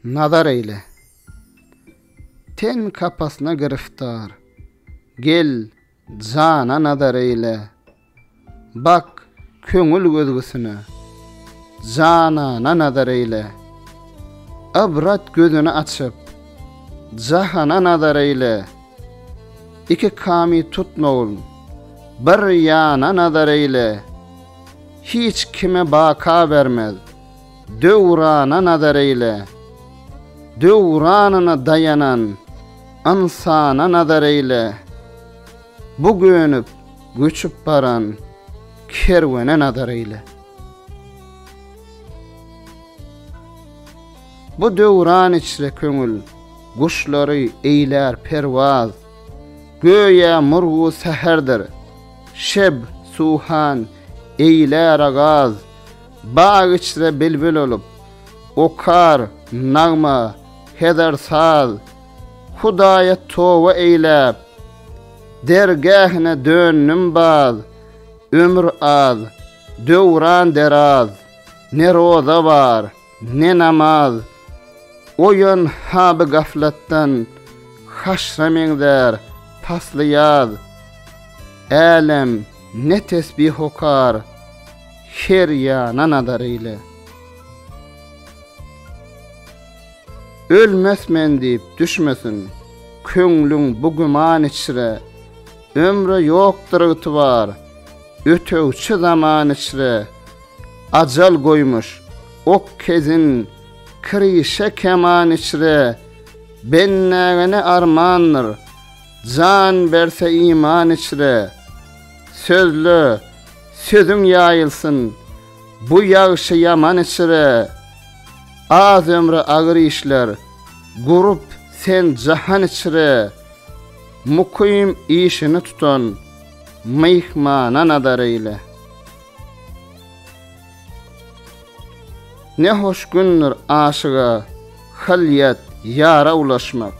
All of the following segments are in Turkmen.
Nazar eýle! Ten kapasyna giriftar. Gel, jana nazar eýle. Bak, köňül gözgüsine. Janana nazar eýle. Ybrat gözüni açyp. Jahana nazar eýle. Iki kamy tutmagyn. Bir ýana nazar eýle. Hiç kime baka bermez. Döwrana nazar eýle. Döwranyna daýanan ynsana nazar eýle. Bu gönüp, göçüp baran kerwene nazar eýle. Bu döwran içre köňül guşlary eýlär perwaz. Göýä murgu säherdir, Şeb, suhan, eýle, ragaz, Bag içre bilbil olup, Okar, nagma, heder, saz, Hudaýa toba eýläp, Dergähine döndüm baz, Ömür az, döwran deraz, Ne roza bar, Ne namaz, oýan haby gaflatdan, Haşra meňzär pasly ýaz. Älem, ne tesbih okar, Her ýana nazar eýle. Ölmes men diýip düşmesin, Köňlüň bu güman içre, Ömre ýokdur ygtybar, Ötegçi zaman içre, Ajal goýmuş, ok kezin, kirişe keman içre, Bendägene armandyr, jan berse iman içre. Sözle, sözüň ýaýylsyn, bu ýagşy-ýaman içre, Az ömre agyr işler, gurup sen jahan içre. Mukym işini tutan, myhmana nazar eýle. Ne hoş gündir aşyga Halýat, ýara ulaşmak,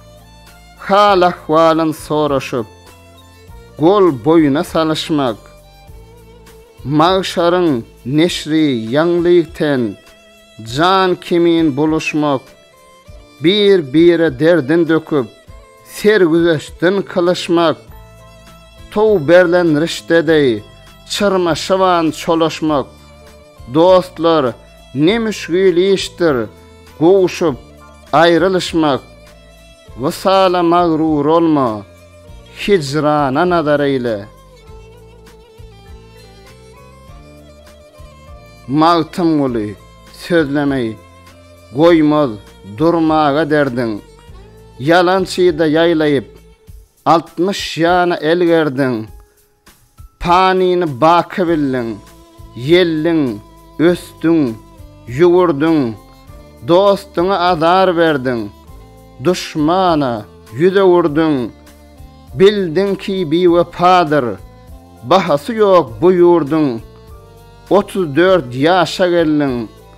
Hal-ahwalyn soraşyp, Gol-boýuna salyşmak. Magşaryň neşri ýaňlyk ten, Jan kimin buluşmak. Bir-bire derdin döküp, sergüzeştden kylyşmak, Tow berlen rişde deý, çyrma şyban çolaşmak. Dostlar, ne müşgil işdir, gowuşyp, aýrylyşmak, Wysala magrur olma, hijrana nazar eýle. Magtymguly, sözlemeý. Goýmaz durmaga derdiň. Ýalançyda ýaýlaýyp, altmyş ýana el gerdiň. Panyny baky bildiň. Ýelliň, ösdüň, ýüwürdiň. Dostuňa azar berdiň. Duşmana ýüz öwürdiň. Bildiň ki biwepadyr. Bahasy ýok bu ýurduň. Otuz dört ýaşa geldiň.